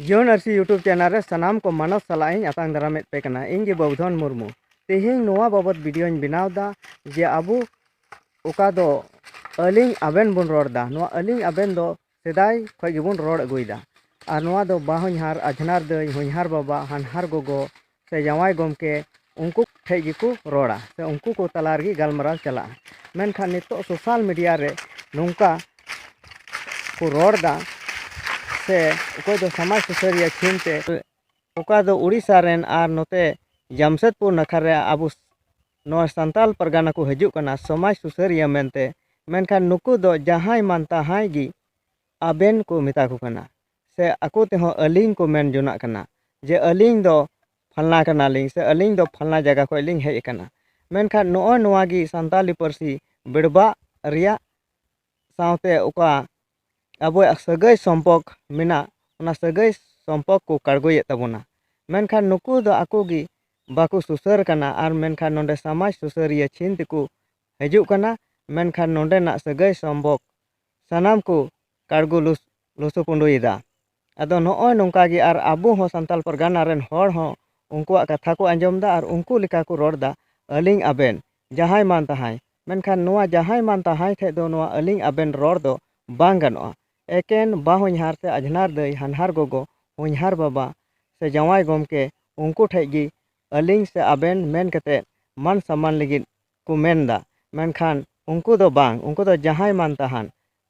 ᱡᱤᱭᱚᱱ ᱟᱹᱨᱥᱤ YouTube channel ᱨᱮ ᱥᱟᱱᱟᱢ ᱠᱚ ᱢᱟᱱᱚᱛ ᱥᱟᱞᱟᱜ ᱤᱧ ᱟᱛᱟᱝ ᱫᱟᱨᱟᱢᱮᱫ ᱯᱮ ᱠᱟᱱᱟ ᱤᱧ ᱜᱮ ᱵᱟᱵᱩᱫᱷᱚᱱ ᱢᱩᱨᱢᱩ ᱛᱮᱦᱮᱧ ᱱᱚᱣᱟ ᱵᱟᱵᱚᱛ ᱵᱷᱤᱰᱤᱭᱳᱧ ᱵᱮᱱᱟᱣ ᱮᱫᱟ ᱡᱮ ᱟᱵᱚ ᱚᱠᱟ ᱫᱚ ᱟᱹᱞᱤᱧ ᱟᱵᱮᱱ ᱵᱚᱱ ᱨᱚᱲ ᱮᱫᱟ ᱱᱚᱣᱟ ᱟᱹᱞᱤᱧ ᱟᱵᱮᱱ ᱫᱚ ᱥᱮᱫᱟᱭ ᱠᱷᱚᱱ ᱜᱮᱵᱚᱱ ᱨᱚᱲ ᱟᱹᱜᱩᱭᱮᱫᱟ ᱟᱨ ᱱᱚᱣᱟ ᱫᱚ ᱵᱟᱦᱚᱧᱦᱟᱨ ᱟᱡᱷᱱᱟᱨ ᱫᱟᱹᱭ ᱦᱚᱧᱦᱟᱨ ᱵᱟᱵᱟ ᱦᱟᱱᱦᱟᱨ ᱜᱚᱜᱚ ᱥᱮ ᱡᱟᱶᱟᱭ ᱜᱚᱢᱠᱮ ᱩᱱᱠᱩ ᱴᱷᱮᱡ ᱜᱮᱠᱚ ᱨᱚᱲᱟ ᱥᱮ ᱩᱱᱠᱩ ᱠᱚ ᱛᱟᱞᱟ ᱨᱮᱜᱮ ᱜᱟᱞᱢᱟᱨᱟᱣ ᱪᱟᱞᱟᱜᱼᱟ ᱢᱮᱱᱠᱷᱟᱱ ᱱᱤᱛᱚᱜ ᱥᱳᱥᱟᱞ ᱢᱤᱰᱤᱭᱟ ᱨᱮ ᱱᱚᱝᱠᱟ ᱠᱚ ᱨᱚᱲ ᱮᱫᱟ ᱥᱮ ᱚᱠᱚᱭ ᱫᱚ ᱥᱚᱢᱟᱡᱽ ᱥᱩᱥᱟᱹᱨᱤᱭᱟᱹ ᱪᱷᱤᱱ ᱛᱮ ᱚᱠᱟ ᱫᱚ ᱩᱲᱤᱥᱥᱟ ᱨᱮᱱ ᱟᱨ ᱱᱚᱛᱮ ᱡᱟᱢᱥᱮᱫᱽᱯᱩᱨ ᱱᱟᱠᱷᱟ ᱨᱮ ᱟᱵᱚ ᱱᱚᱣᱟ ᱥᱟᱱᱛᱟᱞ ᱯᱟᱨᱜᱟᱱᱟ ᱠᱚ ᱦᱤᱡᱩᱜ ᱠᱟᱱᱟ ᱥᱚᱢᱟᱡᱽ ᱥᱩᱥᱟᱹᱨᱤᱭᱟᱹ ᱢᱮᱱᱛᱮ ᱢᱮᱱᱠᱷᱟᱱ ᱱᱩᱠᱩ ᱫᱚ ᱡᱟᱦᱟᱸᱭ ᱢᱟᱱ ᱛᱟᱦᱟᱸᱭ ᱜᱮ ᱟᱵᱮᱱ ᱠᱚ ᱢᱮᱛᱟ ᱠᱚ ᱠᱟᱱᱟ ᱥᱮ ᱟᱠᱚ ᱛᱮᱦᱚᱸ ᱟᱹᱞᱤᱧ ᱠᱚ ᱢᱮᱱ ᱡᱚᱱᱟᱜ ᱠᱟᱱᱟ ᱡᱮ ᱟᱹᱞᱤᱧ ᱫᱚ ᱯᱷᱟᱞᱱᱟ ᱠᱟᱱᱟᱞᱤᱧ ᱥᱮ ᱟᱹᱞᱤᱧ ᱫᱚ ᱯᱷᱟᱞᱱᱟ ᱡᱟᱭᱜᱟ ᱠᱷᱚᱱ ᱞᱤᱧ ᱦᱮᱡ ᱟᱠᱟᱱᱟ ᱢᱮᱱᱠᱷᱟᱱ ᱱᱚᱜᱼᱚᱭ ᱱᱚᱣᱟ ᱜᱮ ᱥᱟᱱᱛᱟᱲᱤ ᱯᱟᱹᱨᱥᱤ ᱵᱮᱲᱵᱟᱜ ᱨᱮᱭᱟᱜ ᱥᱟᱶᱛᱮ ᱚᱠᱟ ᱟᱵᱚᱣᱟᱜ ᱥᱟᱹᱜᱟᱹᱭ ᱥᱚᱢᱯᱚᱨᱠ ᱢᱮᱱᱟᱜ ᱚᱱᱟ ᱥᱟᱹᱜᱟᱹᱭ ᱥᱚᱢᱯᱚᱨᱠ ᱠᱚ ᱠᱟᱲᱜᱚᱭᱮᱫ ᱛᱟᱵᱚᱱᱟ ᱢᱮᱱᱠᱷᱟᱱ ᱱᱩᱠᱩ ᱫᱚ ᱟᱠᱚ ᱜᱮ ᱵᱟᱠᱚ ᱥᱩᱥᱟᱹᱨ ᱠᱟᱱᱟ ᱟᱨ ᱢᱮᱱᱠᱷᱟᱱ ᱱᱚᱰᱮ ᱥᱟᱢᱟᱡᱽ ᱥᱩᱥᱟᱹᱨᱤᱭᱟᱹ ᱪᱷᱤᱱ ᱛᱮᱠᱚ ᱦᱤᱡᱩᱜ ᱠᱟᱱᱟ ᱢᱮᱱᱠᱷᱟᱱ ᱱᱚᱰᱮᱱᱟᱜ ᱥᱟᱹᱜᱟᱹᱭ ᱥᱚᱢᱯᱚᱨᱠ ᱥᱟᱱᱟᱢ ᱠᱚ ᱠᱟᱲᱜᱚ ᱞᱚᱥ ᱞᱩᱥᱩᱯᱩᱸᱰᱩᱭᱮᱫᱟ ᱟᱫᱚ ᱱᱚᱜᱼᱚᱭ ᱱᱚᱝᱠᱟ ᱜᱮ ᱟᱨ ᱟᱵᱚ ᱦᱚᱸ ᱥᱟᱱᱛᱟᱲ ᱯᱟᱨᱜᱟᱱᱟ ᱨᱮᱱ ᱦᱚᱲ ᱦᱚᱸ ᱩᱱᱠᱩᱣᱟᱜ ᱠᱟᱛᱷᱟ ᱠᱚ ᱟᱸᱡᱚᱢᱫᱟ ᱟᱨ ᱩᱱᱠᱩ ᱞᱮᱠᱟ ᱠᱚ ᱨᱚᱲᱫᱟ ᱟᱹᱞᱤᱧ ᱟᱵᱮᱱ ᱡᱟᱦᱟᱸᱭ ᱢᱟᱱ ᱛᱟᱦᱟᱸᱭ ᱢᱮᱱᱠᱷᱟᱱ ᱱᱚᱣᱟ ᱡᱟᱦᱟᱸᱭ ᱢᱟᱱ ᱛᱟᱦᱟᱸᱭ ᱴᱷᱮᱱ ᱫᱚ ᱱᱚᱣᱟ ᱟᱹᱞᱤᱧ ᱟᱵᱮᱱ ᱨᱚᱲ ᱫᱚ ᱵᱟᱝ ᱜᱟᱱᱚᱜᱼᱟ ᱮᱠᱮᱱ ᱵᱟᱼᱦᱚᱧᱦᱟᱨ ᱥᱮ ᱟᱡᱷᱱᱟᱨ ᱫᱟᱹᱭ ᱦᱟᱱᱦᱟᱨ ᱜᱚᱜᱚ ᱦᱚᱧᱦᱟᱨ ᱵᱟᱵᱟ ᱥᱮ ᱡᱟᱶᱟᱭ ᱜᱚᱢᱠᱮ ᱩᱱᱠᱩ ᱴᱷᱮᱱ ᱜᱮ ᱟᱹᱞᱤᱧ ᱥᱮ ᱟᱵᱮᱱ ᱢᱮᱱ ᱠᱟᱛᱮᱫ ᱢᱟᱱ ᱥᱚᱱᱢᱟᱱ ᱞᱟᱹᱜᱤᱫ ᱠᱚ ᱢᱮᱱᱫᱟ ᱢᱮᱱᱠᱷᱟᱱ ᱩᱱᱠᱩ ᱫᱚ ᱵᱟᱝ ᱩᱱᱠᱩ ᱫᱚ ᱡᱟᱦᱟᱸᱭ ᱢᱟᱱ ᱛᱟᱦᱟᱸᱱ